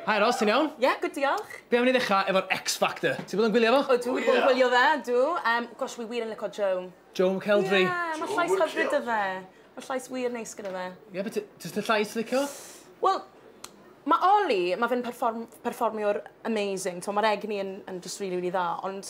Hi Ros, ti'n iawn? Ie, good diolch. Be' am i ni ddechrau efo'r X Factor? Ti bod yn gwylio fo? Ydw, wi bod yn gwylio fe, ydw. Yym, gosh, wi wir yn lico Joe. Joe McElderry? Ie, ma' llais hyfryd 'da fe. Ma' llais wir neis gyda fe. Ie, be' ti, jyst y llais ti'n licio? Wel, ma' Oli, ma' fe'n perfform- perfformio'r amazing, t'mo' ma'r egni yn yn jyst rili rili dda, ond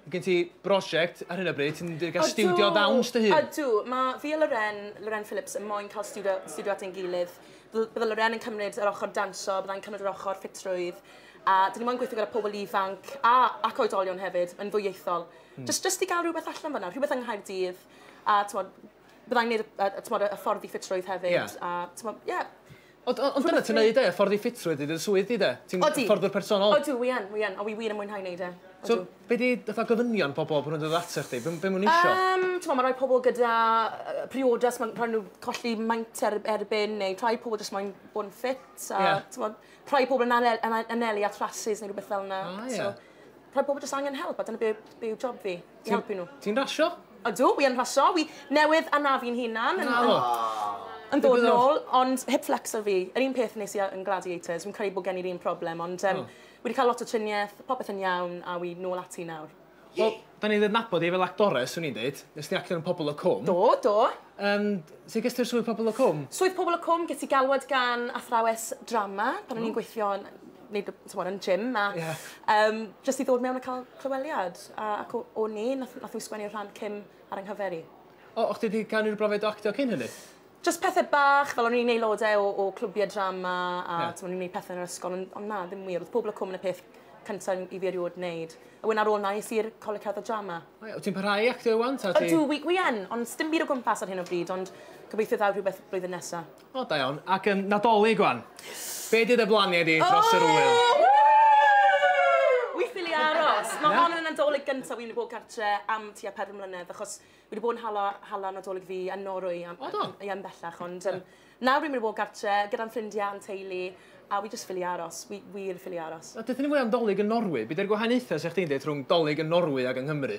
Mae gen ti brosiect ar hyn o bryd, ti'n mynd i gael studio ddawns dy hun? Ydw, mae fi a Loren, Loren Phillips, yn moyn cael studio, studio at ein gilydd. Bydde Loren yn cymryd yr ochr danso, byddai'n cymryd yr ochr ffitrwydd, a dyn ni moyn gweithio gyda pobl ifanc a, ac oedolion hefyd, yn ddwyieithol. Mm. Just, just i gael rhywbeth allan fanna, rhywbeth yng Nghaerdydd, a tmod, byddai'n gwneud y, y, y, y ffordd i ffitrwydd hefyd, yeah. a tmod, yeah, Ond o- ond dyna ti'n neud e, ffordd i ffitrwydd i dy swydd di de? Ti'n Odi. fforddwr personol. Odw, wi yn, wi yn, a wi wir yn mwynhau neud e. So, Odw. be' 'di fatha gofynion pobol pan nw'n dod atoch chdi? Be' be' ma' n'w isio? Yym, t'mo' ma' rai pobol gyda yy priodas ma'n rhai' n'w colli maint er erbyn neu rhai pobol jyst moyn bod yn ffit a... Ie. ...t'mod rhai pobol yn anel- yn a- anelu at rasys neu rwbeth fel 'na. O ie. So rhai pobol jyst angen help a dyna be' be' yw job fi. i helpu nhw. Ti'n rasio? Ydw, wi yn rasio. Wi newydd anafu'n hunan. Na fo. Yn dod yn ôl, ond hip flexor fi. Yr un peth nes i yn Gladiators. Fi'n credu bod gen i'r un problem, ond um, oh. wi wedi cael lot o triniaeth, popeth yn iawn, a wi nôl ati nawr. Wel, da ni'n ddednabod i fel actores, swn i'n dweud. Nes ti actor yn Pobl y Cwm. Do, do. Um, sut ges ti'r swydd Pobl y Cwm? Swydd Pobl y Cwm, ges i galwad gan athrawes drama pan o'n i'n gweithio yn wneud y, tymor, yn gym, a yeah. um, jyst i ddod mewn a cael clyweliad. A, ac o, o ni, nath, nath nhw sgwennu'r rhan cym ar yng nghyfer i. O, o'ch ti wedi cael unrhyw brofiad o actio cyn hynny? Just pethau bach, fel o'n i'n neud lodau o, o clwbiau drama, a yeah. o'n i'n neud pethau yn yr ysgol, ond on na, ddim wir. Oedd pobl y cwm yn y peth cyntaf i fi erioed wneud. A wedyn ar ôl na, nes i'r coleg cerdded drama. O, yeah, ti'n parhau actio iwan? Ydw, wi, wi yn, ond dim byd o gwmpas ar hyn o bryd, ond gobeithio ddaw rhywbeth blwyddyn nesaf. O da iawn. Ac yn Nadolig wan. Be di dy blanie di dros yr ŵyl? Wi ffili aros. Mae hon yn y Nadolig gyntaf wi wedi bod gartre am tua pedwar mlynedd achos wi wedi bod yn hala hala Nadolig fi yn Norwy am... O do? ...ia yn bellach ond yym nawr wi mynd i bod gartre gyda'n ffrindia a'n teulu a wi jyst ffili aros. Wi wir yn ffili aros. Wel deutha ni fwy am Dolig yn Norwy. Be di'r gwahaniaetha 'sa chdi'n deud rhwng Dolig yn Norwy ag yng Nghymru?